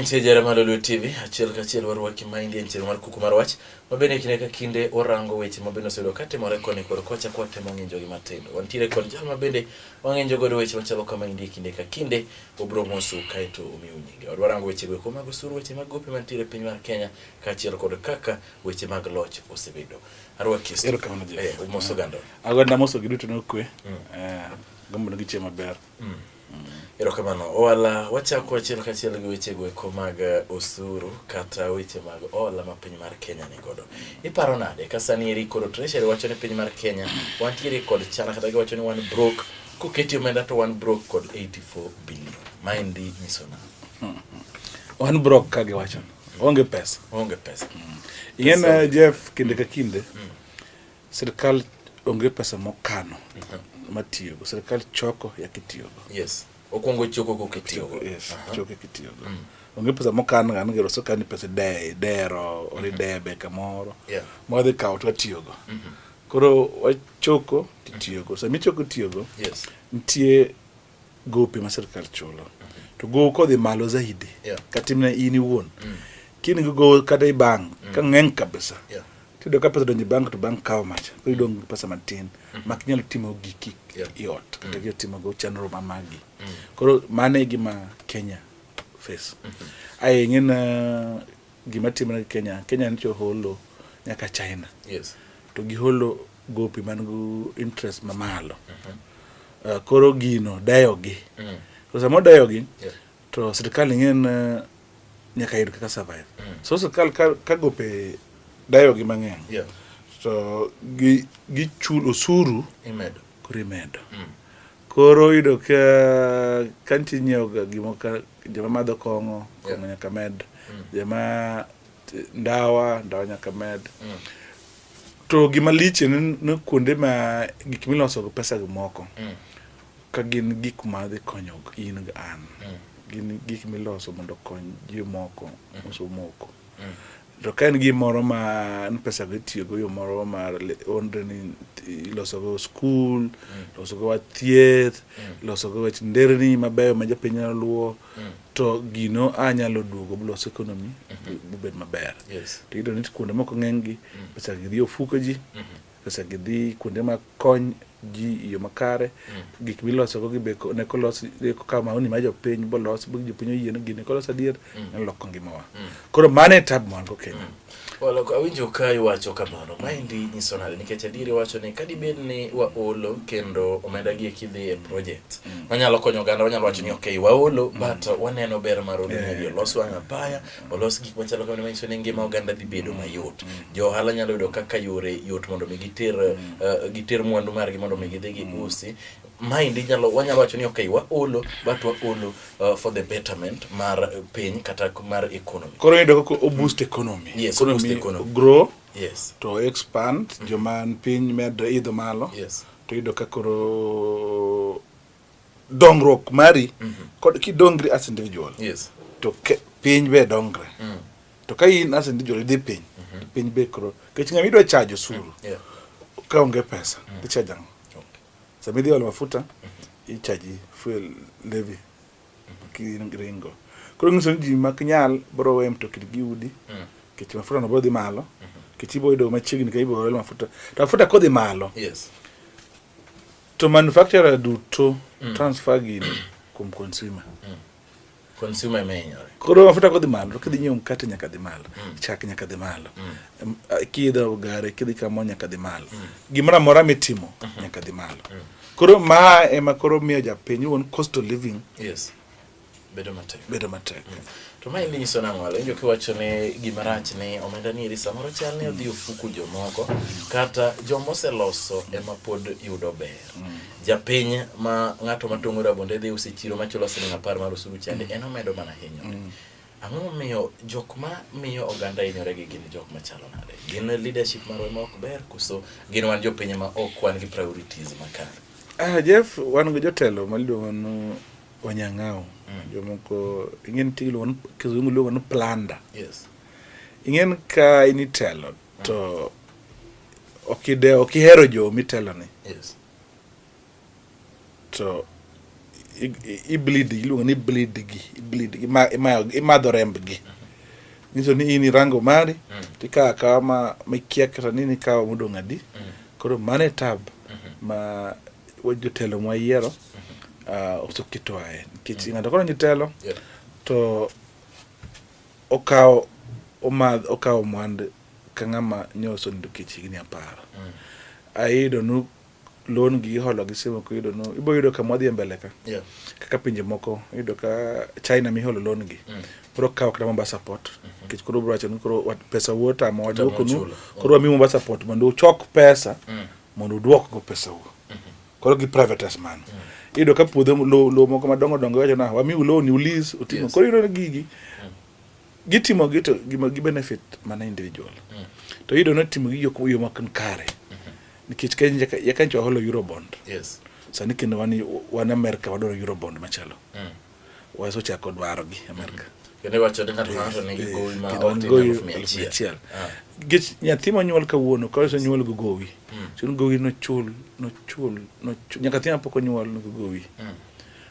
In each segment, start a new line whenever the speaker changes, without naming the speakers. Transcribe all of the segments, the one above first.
mantie jara malo Lolwe TV achiel ka achiel warwaki ma indie ntiere mar kuku mar wach ma bende kinde ka kinde orango weche ma bende osebedo ka timore koni kod kocha kwa temo ng'injogi matindo wantiere kod jal ma bende wang'enjo godo weche machalo kama endi kinde ka kinde obro mosu kaeto omiu nyinge wadwa rango weche go mago sur weche mag gope mantiere e piny mar Kenya kaachiel kod kaka weche mag loch osebedo arwa kisto erokamano je eh, umoso gando agwanda moso giduto
nokwe mm. eh, gombo nigi chiemo maber mm. mm.
erokamano owala wachako achiel kachiel gi weche go eko mag eh, osuru kata weche mag ola ma piny mar Kenya ni godo Iparo nade ka sani eri koro treasury wacho ni piny mar Kenya wantiere kod chana kata giwacho ni wan broke koketi omenda to wan broke kod 84 billion. Ma endi nyiso na. Hmm. Wan
broke ka giwacho onge pesa. Onge pesa. Hmm. Ing'e Jeff kinde ka kinde hmm. sirkal onge pesa mokano mhm. matiyogo. Sirkal choko yakitiyogo. Yes. Okuongo
choko kok itiyogo. Yes, choko
kitiyogo. Mm. Onge pesa mokan ga ngero so kan pesa de dero ori mm-hmm. debe kamoro. Yeah. Mo dhi kawo
to atiyogo.
Mm -hmm. Koro wachoko titiyogo. Sama ichoko tiyogo. Yes. Nitie gope ma sirkal chulo. Mm-hmm. To gowo kodhi malo zaidi. Yeah. Katimne in
iwuon.
Mm. Kini go kata i bank mm. ka ng'eny kabisa. Yeah. Tiyudo ka
pesa donjo
bank to bank kawo macha, koro mm. idong' gi pesa matin mm. mak nyalo timo giki i ot mm. kata gi timo go chenro ma magi. Koro mano e gima Kenya face. Mm-hmm. Aye ng'en uh, gima timre Kenya, Kenya nicho holo nyaka China. Yes. To
giholo
gopi man gu interest mamalo. Mm-hmm. Uh, koro gino dayogi. Mm. Koro sama odayogi, yeah. to sirkal ing'eyo ni nyaka yud kaka survive mm. so sirkal ka, ka gope dayogi mang'eny yeah. to gi, gichul osuru imedo koro
imedo mm. koro
yudo ka ka nitie nyiewoga gimo ka joma madho kong'o kong'o yeah. nyaka med mm. joma ndawa ndawa nyaka med mm. to gima liche ni kuonde ma gik miloso gi pesa gi moko mm. Ka gin gik ma dhi konyo in gi an, mm. gin gik miloso mondo okony ji moko mm. uso moko. Mm. To ka en gimoro ma n pesa go itiyogo yo moro mar onre ni ilosogo skul, mm. losogo wach thieth, mm. losogo wach nderni mabeyo ma jopiny nyalo luwo, mm. to gino a nyalo duogo blos ekonomi mm-hmm. bubed maber. Yes. To iyudo ni
kuonde moko
ng'enygi mm. pesa gi dhi ofuko ji. Mm-hmm. pesa gi dhi kuonde ma kony ji e yo makare mm. gik milosogo gi beko ne kolos ka maoni ma jopiny bolos bo jopiny oyie ni gini kolos adier mm. ne loko ngimawa mm. koro mano e tab mwan go kenya Well, awinjo
ka iwacho kamano maendi nyiso nade nikech adier iwacho ni kadibed ni waolo kendo omenda gi ekidhi e project wanyalo konyo oganda wanyalo wacho ni ok waolo but waneno ber mar olo ni olos wang' apaya olos gik machalo kamano manyiso ni ngima oganda dhi bedo mayot. Jo ohala nyalo yudo kaka yore yot mondo mi giter uh, giter mwandu margi mondo mi gidhi giusi. Maendi nyalo wanyalo wacho ni okay waolo but waolo uh, for the betterment mar piny kata mar economy. Koro yudo kaka o boost
economy. Yes, Koro boost mi- economy.
grow
Yes. to
expand
joma piny medo idho malo Yes. to yudo ka
koro
dongruok mari mm -hmm. kod kidongri as individual yes. to ke,
piny
be dongre mm. to ka in as individual idhi piny mm -hmm. piny be koro kech ng'ama idwa chajo suru mm. yeah.
ka onge
pesa mm. ichajo ang'o okay. sama idhi olo mafuta mm -hmm. ichaji fuel levy mm -hmm. kiringo koro ng'iso ni ji mak nyal bro we mtokni gi udi mm. kech mafuta no bro dhi malo mm -hmm. kech ibo yudo machiegni ka ibo olo mafuta to mafuta kodhi malo yes To manufacturer duto mm. transfer gini kuom consumer. Mm.
Consumer emenyore. Koro mafuta kodhi malo,
kidhi nyiewo mkate nyaka dhi malo, mm. chak nyaka dhi malo. Mm. Kidho gare, kidhi kamo nyaka dhi malo. Mm. Gimoro amora mitimo mm -hmm. nyaka dhi malo. Mm. Koro ma ema koro miyo japiny won cost of living. Yes.
bedo matek bedo matek mm. to ma imi nyiso nang'o walo injo kiwacho ni gima rach ni omenda ni iri samoro chal ni odhi ofuku jomoko kata joma oseloso ema pod yudo ber mm. japiny ma ng'ato matong'o rabonde dhi usi chiro machulo siling apar mar osuru chande mm. en omedo mana hinyore mm. ang'o momiyo jok ma miyo oganda hinyore gi gin jok machalo nade gin leadership marwa ma ok ber koso gin wan jopiny ma ok wan gi priorities makare ah, jeff wan gi
jotelo maluongo Onyang'aw. Mm. Jomoko ing'e nitie iluongo ni kizungu iluongo ni planda. Yes.
Ing'e ni
ka in itelo mm. to ok ide ok ihero jo miteloni. Yes. To ibleed iluongo ni bleed gi ibleed gi imadho remb gi. Mm. Nyiso ni in irango mari mm. tikawo akawa ma mikia kata nini ikawo modong' adi. Mm. Koro mano e tab mm-hmm. ma jotelo mwa yiero uh, oseketo aye nikech mm. ng'ato koro nyitelo yeah. to okawo omadh okawo mwand ka ng'ama nyoso nindo kech higni apar mm. ayudo nu loan gi iholo gi simu ko yudo nu ibo yudo ka mwadhi e mbele ka yeah. kaka pinje moko yudo ka china miholo loan gi mm. koro kawo kata mombasa port mm -hmm. kech koro bro wacho ni koro pesa wuota ma wadwoko nu koro wamiu mombasa port mondo uchok pesa mm. mondo uduok go pesau koro gi privatise mano iyudo ka puodho lo, lo moko madongo dongo wacho na wamiu loan ni ulis utimo yes. koro iyudo gigi mm. gitimo gi to gima gi benefit mana individual mm. to iyudo ni timo gi yok yo mak kare mm-hmm. nikech Kenya ya Kenya waholo eurobond yes sani kendo wan wan America wadoro eurobond machalo mm. waso chako dwaro gi Amerka. Kendo iwacho ni ng'ato
ka ng'ato nigi gowi ma Kendo ok an tin gowi elfu mia elfu mia achiel.
achiel. Ah. Nikech nyathi monyuol kawuono ka iso nyuol gi gowi. Chul gowi nochul nochul nochul nyaka nyathi mapok onyuol nigi gowi.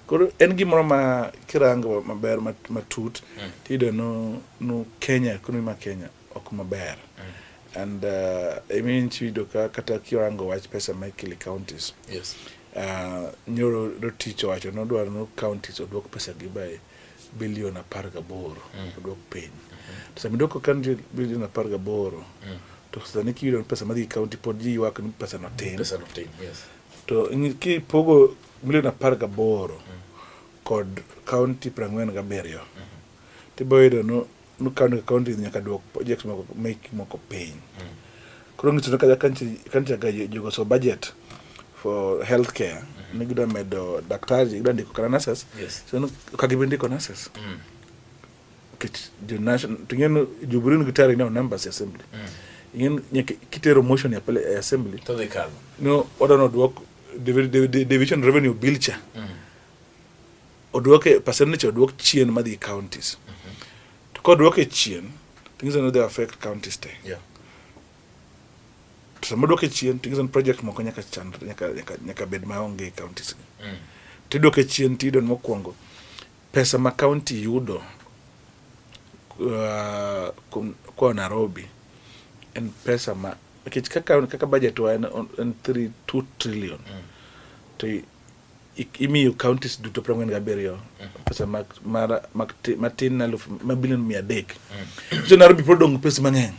Koro en gimoro ma kirango maber mat- matut tiyudo no no Kenya ekonomi ma Kenya ok maber mm. and uh, I mean chido ka kata kiwango wach pesa ma ikili counties yes. uh, nyoro dotich owacho nodwaro no counties odwok pesa gi by bilion apar gaboro mm. odwok piny mm -hmm. to sami dwoko county bilion apar gaboro mm. to sani kiyudo pesa madhi county pod ji ywak ni pesa no tin pesa no tin yes. to kipogo milion apar gaboro mm. kod county prang'wen gabiriyo mm. tibo yudo no no county county nyaka duok projects moko make moko piny koro ngiso no kaja kanti kanti aga jogo so budget for healthcare ni gida medo daktari gida ndiko kana nurses Yes. so no kagi bendi ko nurses Mm. kit the national tingeno jubrin gitari now numbers assembly ingen nyaka kitero motion ya pale eh, assembly To the card. no
order no duok
divi- divi- division revenue bill cha odwoke percentage odwok chien madhi counties mm -hmm. to kodwoke chien things are not they affect counties te yeah. to sama dwoke chien things and project moko nyaka chan nyaka nyaka, nyaka bed maonge e counties gi mm. tidwoke chien tido mokwongo pesa ma county yudo uh, kwa Nairobi en pesa ma nikech kaka kaka budget wa en, en 3 2 trillion mm. to imiyo counties duto piero ang'wen gabiriyo mm. pesa matin na elfu ma bilion mia adek mm. so Nairobi pod odong' pesa mang'eny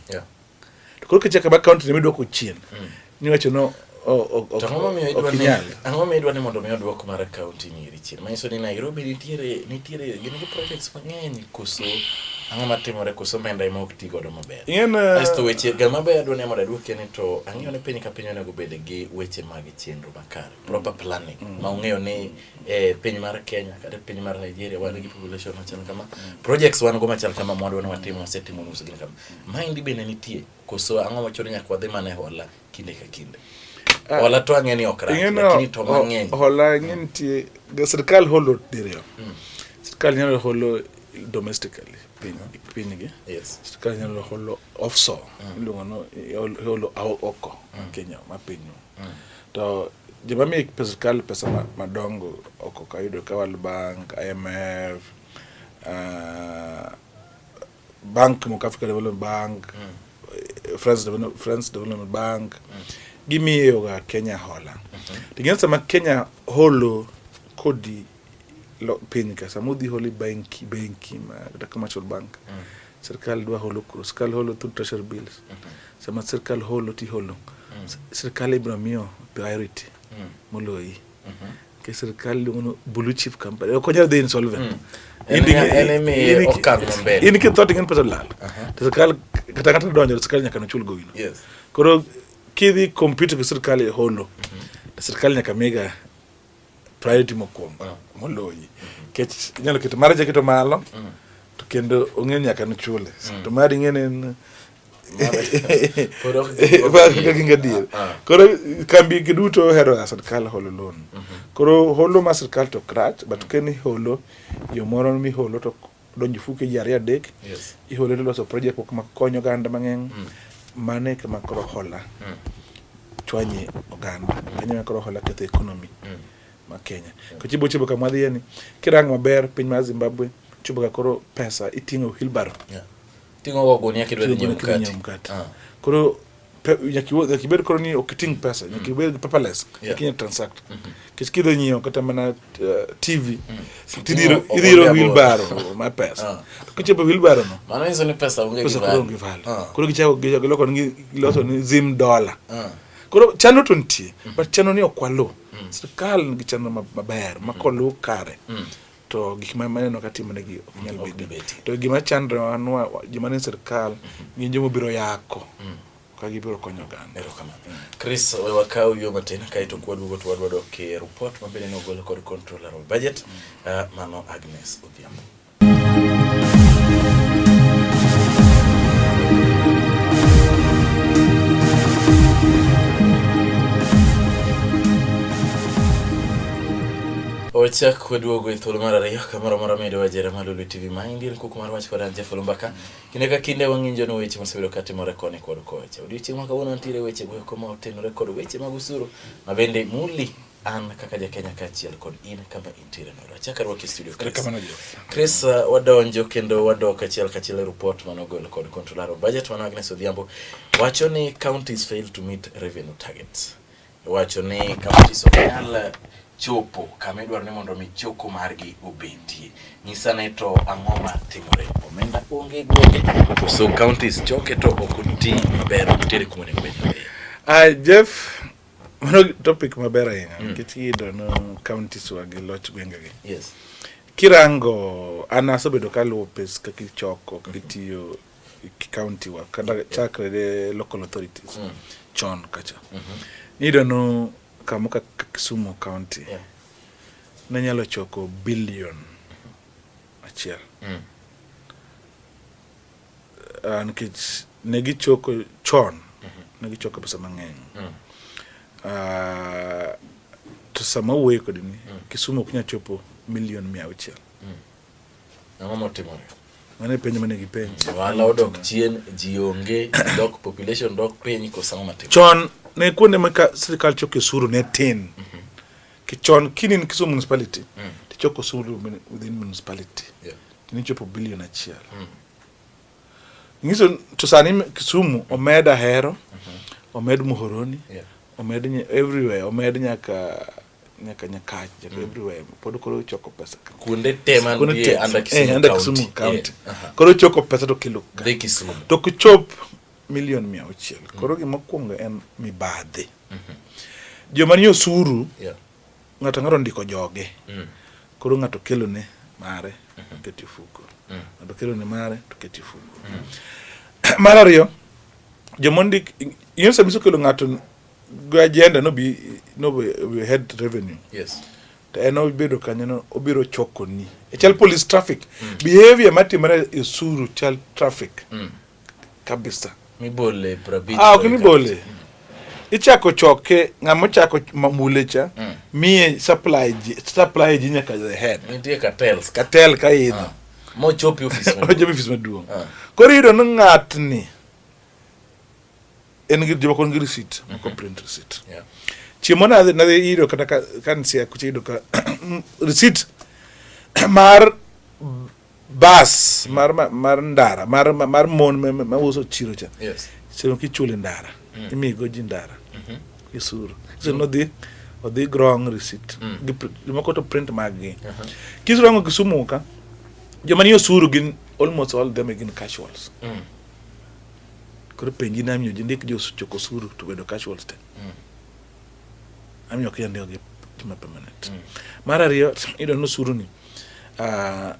to koro kichaka ba county ne midwoko chien mm. niwacho no
ang'o midwa ni mondo mi odwok mar county nyiri chien manyiso ni Nairobi nitiere nitiere gin gi projects mang'eny koso ang'o matimore koso omenda ema ok ti godo maber asto weche ga maber adwa ni mondo adwokie ni to ang'eyo ni piny ka piny onego bed gi weche mag chenro makare proper planning mm. ma ung'eyo ni eh, piny mar Kenya kata piny mar Nigeria wan gi population machal kama mm. projects wan go machal kama mwandu wan watimo wasetimo nus gin kama mind be ne nitie koso ang'o machoro nyaka wadhi mana e hola kinde ka kinde ah, hola to ang'e ni ok rach lakini to mang'eny hola ang'e mm. nitie
sirkal holo diriyo mm. sirkal nyalo holo domestically piny mm. piny gi yes sirkal nyalo holo offshore mm. iluongo no holo oko mm. Kenya ma piny mm. To joma miyo sirkal pesa madongo ok ok ayudo ka World Bank, IMF, uh, ah, bank moko Africa Development Bank, mm. France, Development, France Development Bank mm. gimiyoga Kenya hola. Mm -hmm. Ting'en sama Kenya holo kodi piny ka sama udhi holi benki benki ma kata commercial bank mm. sirkal dwa holo kuro sirkal holo through treasury bills mm -hmm. sama sirkal holo ti holo mm. sirkal ibiro miyo priority mm. moloyi mm -hmm. ke sirkal luongo no blue chip company ok onyal dhi insolvent
mm. in kitho ting'en pesa lal
uh-huh. to sirkal kata kata donjo sirkal nyaka nochul gowino yes. koro kidhi compete gi sirkal e holo mm -hmm. sirkal nyaka mega priority mokwongo ah. moloyi kech inyalo keto mara jaketo malo mm. to kendo ong'e nyaka nochule mm. to mari ing'e ne en ginga dier ah, ah. koro kambi gi duto ohero a sirkal holo loan mm-hmm. koro holo ma sirkal to krach but mm. keni holo yo moro miholo to donjo fuke ji ariyo adek yes. ihole to loso project moko makonyo oganda mang'eny mm. mano e kama koro hola mm. chwanye oganda mm. kanya ma koro hola ketho economy mm. ma Kenya mm. kochibo chibo kama wadhiye ni kirang maber piny mar Zimbabwe chibo ka koro pesa iting'o wheelbarrow yeah. ting'o go
gunia kidwa dhi nyiewo mkate ah. koro
nyakibed koro ni ok iting' pesa nyakibed gi paperless ikinya transact mm-hmm. kech kidho nyiewo kata mana uh, tv mm. tidhiro wheelbaro ma pesa ah. to kichopo wheelbaro no
koro onge valo ah. koro
gichako giloko giloso ni zim dola ah. koro chano to nitie mm. but chano ni ok waluw mm. sirkal nigi chano maber ma koluw kare to gik ma maneno ka timonegi ok nyal bedo to gima chandre wanwa gima ne sirkal gin joma biro yako mm. ka gibiro konyo oganda Chris
we wakaw yo matin kae to kwa duogo to wadwa dok e report ma bende ne ogol kod controller of budget mm. ah, mano Agnes Odhiambo Ochak kwaduogo e thuolo mar ariyo kamoro moro medo wajera malulu TV ma indi en kuku mar wach kod Anja Fulumbaka. Kinde ka kinde wang'injo no weche mosebedo ka timore koni kod kocha. Odiochieng' ma kawuono nitiere weche go koma otenore kod weche mag usuru ma bende muli an kaka ja Kenya kaachiel kod in kama intiere no. Achaka rwak e studio Chris. Chris uh, wadonjo kendo wadok achiel kachiel e report mano gol kod controller of budget mano Agnes Odhiambo wacho ni counties fail to meet revenue targets. Iwacho ni counties ok nyal chopo kama idwaro ni mondo mi choko margi obetie. Nyisa ne to ang'o ma timore? Omenda onge gwenge. So counties choke to ok oti maber ok tere kuma onego bed. Ah, Jeff,
mano topic maber ahinya mm. nikech iyudo no counties wa gi loch gwengegi. Yes.
Kirango
an asebedo kaluwo pes kaka ichoko kaka itiyo county wa kata yeah. chakre ne local authorities mm. chon kacha mm -hmm. niyudo no kama kaka Kisumu county yeah. ne nyalo choko billion mm-hmm. achiel mm. uh, nikech ne gichoko chon mm -hmm. ne gichoko pesa mang'eny mm. uh, to sama wuoye kodini mm. Kisumu ok nyal chopo milion mia auchiel mm.
Ang'o motimore? Mano e penjo mane
gipenjo. Ohala odok chien,
ji onge, dok population dok piny koso ang'o matimore? Chon ne kuonde
ma ka sirkal choko osuru ne tin. Ki chon kini in Kisumu municipality, tichoko osuru min- within municipality. Yeah. Tini chopo bilion achiel. Nyiso to sani m- Kisumu omed Ahero, omed Muhoroni, Yeah. omed Nye- everywhere, omed nyaka nyaka Nyakach, nyaka mm. everywhere. Pod koro choko pesa. Kuonde te man
tie under eh, Kisumu, eh, under Kisumu County. Yeah. Uh -huh. Koro
choko pesa to kilo. Dhi Kisumu. To
kuchop
milion mia auchiel. Mm. Koro gima kwongo en mibadhi. Mm -hmm. Joma ni osuru. Yeah. Ng'ato ng'ato ndiko joge. Mm. Koro ng'ato kelo ne mare mm -hmm. keti fuko. Mm. Ng'ato kelo ne mare to keti fuko. Mm. Mar ariyo, joma ndik, inyo samiso kelo ng'ato agenda no be no be head revenue yes to en obedo kanyo no obiro choko ni e chal police traffic mm. behavior matimore e suru chal traffic mm. kabisa mibole
prabit ah ok mibole
mm. ichako choke ng'ama chako mule cha mm. miye supply ji supply ji nyaka the head nitie cartels
cartel ka
idho ah. mochopi office
mochopi office maduong ah.
koro iyudo ni ng'atni en gi joma kon gi receipt mm -hmm. moko print receipt yeah. chiemo nadhi nadhi iro kata ka, ka nsia kucha iro ka receipt mar bas mar mar ndara mar mar mon ma uso chiro cha yes sino kichule ndara mm. imigo ji ndara mm -hmm. isuru sino mm. dhi odhi grong receipt mm. gimoko to print mag gi uh -huh. kisurango kisumu ka joma ni osuru gin almost all them gin casuals mm. Koro penji na miyo jindik jo choko suru to bedo casuals te. Mm. Amiyo kia ndio gi tima permanent. Mm. Mar ariyo ido no suru ni uh,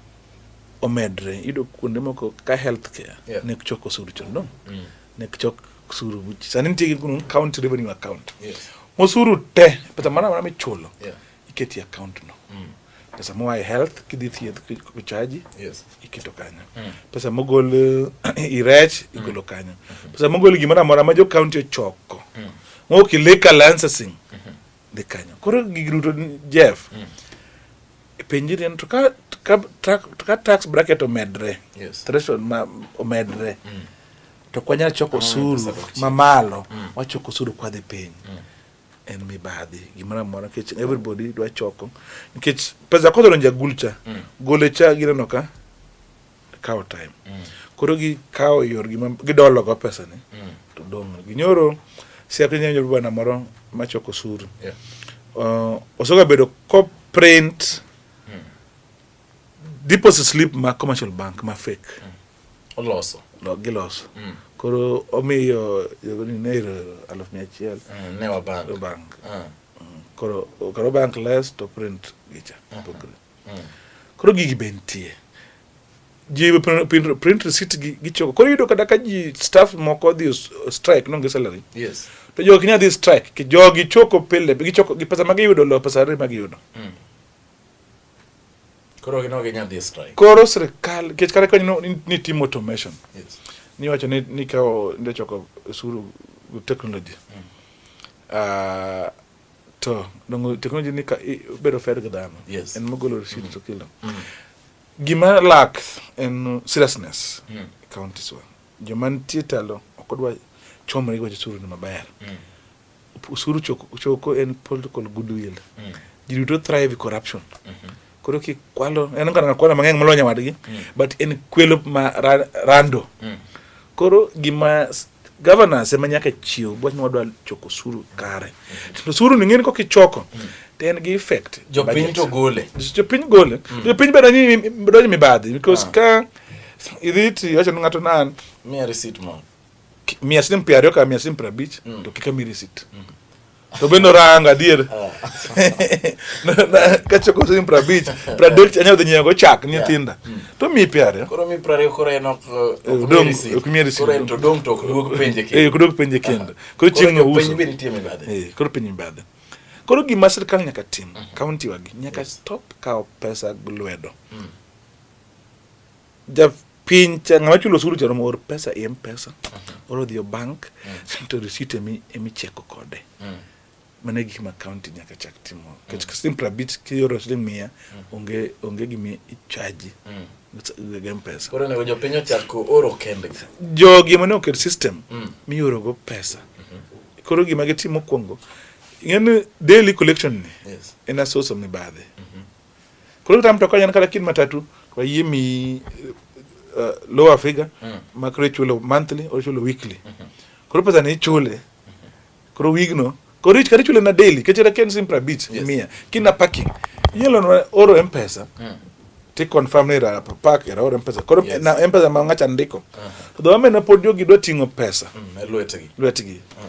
omedre ido kuonde moko ka health care yeah. ne choko suru chondo. Mm. Ne chok suru sani nitie gi county revenue account. Yes. Mosuru te pesa mana mana michulo. Yeah. iketi e account no mm. pesa moa e health kidhi thieth kuchaji yes. iketo kanyo mm. pesa mogol eh, irech mm. igolo kanyo mm. pesa mogol gimoro amora ma jo county ochoko mm. moki liquor licensing mm -hmm. dhi kanyo koro gigi duto Jeff mm. penjiri en to ka ka, ka, ka tax bracket omedre yes. threshold ma omedre mm. to kwanyalo choko osuru mamalo mm. wachoko osuru kwadhi piny mm. en mibadhi gimoro amora nikech everybody dwa choko nikech pesa kodhi donjo agul cha mm. gole cha gineno ka kawo time mm. koro gikawo yorgi gidologo pesani mm. to dong' ginyoro siape nyanyo bwana moro machoko osuru yeah. uh, osoga bedo ko print mm. deposit slip ma commercial bank ma fake mm. oloso
lo giloso mm.
koro omiyo yogoni nairo aluf mia achiel mm, ne wabank
bank mm.
mm. koro karo bank less to print gicha mm -hmm. mm. koro gigi be nitie ji print receipt gi gichoko koro yudo kata ka ji staff moko dhi strike nonge salary yes to jogi
nya dhi strike
ki jogi choko pile gichoko gi pesa ma giyudo lo pesa re ma giyudo mm.
Koro gino gi nyadhi strike. Koro sirkal
kech kare kanyo ni timo automation. Yes. Ni
wacho ni ni
kao ndio choko suru technology. Mm. Uh, to dongo technology ni ka bedo fair ga dhano. Yes. En mogolo receipt
mm. to
kilo. Mm. Gima lack en seriousness. Mm. Counties wa. Joma nitie talo ok odwa chomre gi wacho suru ni maber. Mm. Usuru choko, choko en political goodwill. Mm. Ji duto thrive e corruption. Mm -hmm. Koro kikwalo, en ngana kwalo mang'eny molonya wadgi, mm. but en kwelo ma ra, rando. Mm. Koro gima governance ema nyaka chiw bwa ni wadwa choko suru kare. To suru ni ng'eni kok ichoko. Mm. To en gi effect. Jopiny to gole.
Jopiny gole. Mm. Jopiny
bedo ni bedo ni mibadhi because ah. ka idhi ti wacho ni ng'ato nan. Miya receipt moro.
mia siling
piero ariyo kata mia siling piero abich mm. to kik amiyi risit mm. to be noranga adier oh. kachoko siling piero abich piero adek anyalo dhi nyiewogo chak ni nyithinda mm. to miyi piero ariyo koro miyi piero ariyo koro en
ok miyi risit ok miyi risit to dong' to ok duog penje kendo eh, ok duog penje kendo
koro chieng' nouso koro penj be nitie mibadhi eh,
koro penj mibadhi
Koro gima sirkal nyaka tim, mhm. kaunti wagi nyaka stop kawo pesa lwedo. Mm. Ja piny cha ng'ama chulo osuru cha oor pesa e mpesa mhm. oro dhi bank mhm. to receipt emi emi cheko kode mhm. mane gik ma county nyaka chak timo kech simple bit ki oro siling mia onge onge gimi ichaji gem pesa koro nego jopiny ochako
oro kembe jogi mane oket
system mm. mioro go pesa koro gima gitimo mokwongo ing'eni daily collection ni yes. en asoso
mibadhi
mm -hmm. Koro kata mtoka yan kata kin matatu kwa yie mi uh, lower figure mm. ma koro ichulo monthly or ichulo weekly. Mm -hmm. Koro pesa ni ichule. Mm-hmm. Koro wigno koro ich kata ichule na daily kech kata ken simpra beach yes. mia kina parking. Yelo no oro M-Pesa. Mm. Ti confirm ni ra park era oro M-Pesa. Koro yes. na M-Pesa ma ngacha ndiko. Uh -huh. Dho ame na pod jogi dwa ting'o pesa. Mm, lwetgi. Lwetgi. Mm.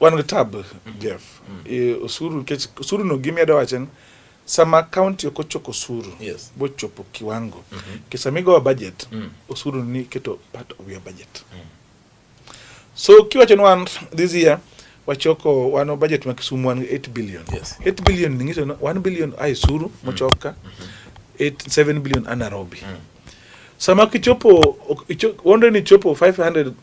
Wan gi tab Jeff. Mm. E, osuru kech osuru no gimi ado wachen sama kaunti ok ochoko osuru yes. bochopo kiwango mm -hmm. kesa migowa budget mm. osuru ni keto part of your budget mm. so kiwacho ni wan this year wachoko wano budget ma Kisumu wan 8 billion yes. 8 billion ni ngiso 1 billion ai suru mm. mochoka mm -hmm. 8 7 billion anarobi mm. sama kichopo wondre ni chopo 500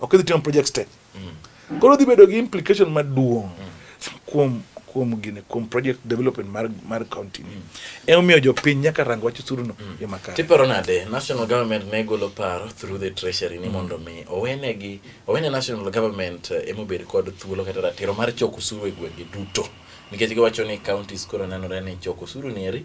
Ok idhi timo project step. Mm. Koro dhi bedo gi implication maduong' mm. kuom kuom gine kuom project development mar mar county ni mm. omiyo jopiny nyaka rang wach osuru no mm. yo makare tiparo nade national
government ne golo paro through the treasury ni mm. mondo mi owenegi owene national government eh, emobed kod thuolo kata ratiro mar choko osuru e gwenge duto nikech giwacho ni counties koro nenore ni choko osuru ni eri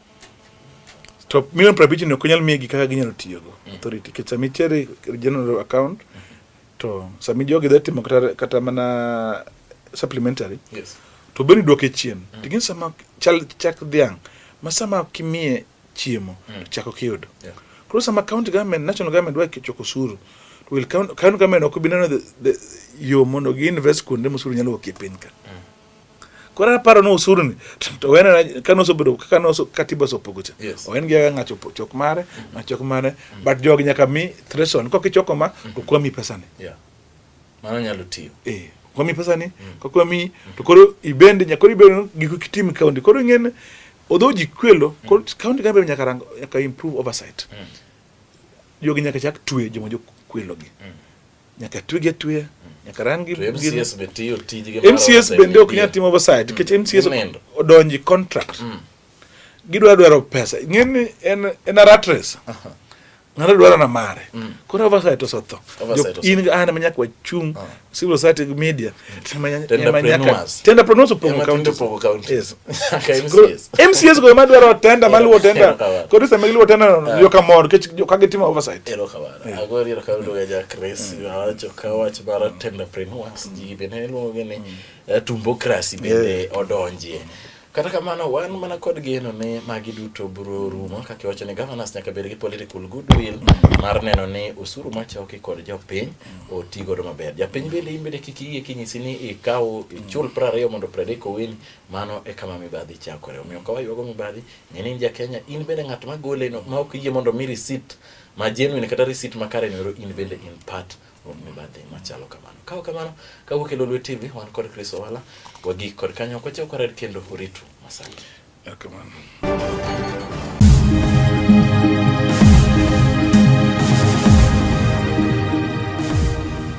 to milion piero abich ni ok onyal migi kaka ginyalo tiyogo mm. authority nikech sama itere general account to sama jogi dhi timo kata, kata mana supplementary yes. to
beni duoke
chien mm. tigin sama chal chak dhiang' ma sama kimiye chiemo mm. chak ok iyudo yeah. koro sama county government national government dwa choko osuru to will county government ok bi neno yo mondo gi invest kuonde mosuru nyalo wuokie piny ka mm. Koro aparo ni usuru ni to wena kane osebedo kaka ne katiba osopogo cha. Yes. Oen gi aga ng'acho chok mare, ng'achok mare, mm. but jogi nyaka mi threshold. Kok ichoko ma, mm. to kwa mi pesa ni. Yeah. Mano
nyalo tiyo. Eh. Kwa mi pesa ni,
mm. kwa kwa mi, to koro ibende, nyakoro ibende giko kitimi kaunti. Koro ing'en, odho ji kwelo, mm. koro kaunti kambe nyaka rango, nyaka improve oversight. Mm. Jogi nyaka chak tuwe jomo jo kwelo gi. Mm. Nyaka twege atweya. Nyaka ran gi MCS be
tiyo tijgi. MCS bende ok nyal
timo oversight nikech MCS odonji contract. Mm. Gidwa dwaro pesa. Ng'eni en en a rat race. Ng'ato dwaro na mare. Mm. Koro oversight osetho. In an ma nyaka wachung ah. civil society media mcs go ema dwaro tenda maluwo tenda kod sama giluwo tenda ah. yo kamor kech ka gitimo oversight ero kamano agor
ero ka luga ja chris mm. wacho ka wach bara tenda preneurs ji bende luongo ni mm. eh, tumbokrasi bende odonjie Kata kamano, wan mana kod geno ni magi duto biro rumo kaka iwacho ni governors nyaka bed gi political goodwill mar neno ni osuru machoki kod jopiny oti godo maber. Japiny bende in bende kik iyie kinyisi ni ikaw ichul piero ariyo mondo predek owin, mano e kama mibadhi chakore. Omiyo ka waywago mibadhi, ng'e ni in ja Kenya, in bende ng'at ma goleno ma ok iyie mondo mi receipt ma genuine kata receipt makare noro in bende in part mibadhi machalo kamano. Kawo kamano, kawuok e Lolwe TV, wan kod Chris Owala, wagik kod kanyo, kwachew kwarer kendo uritu masani. Erokamano.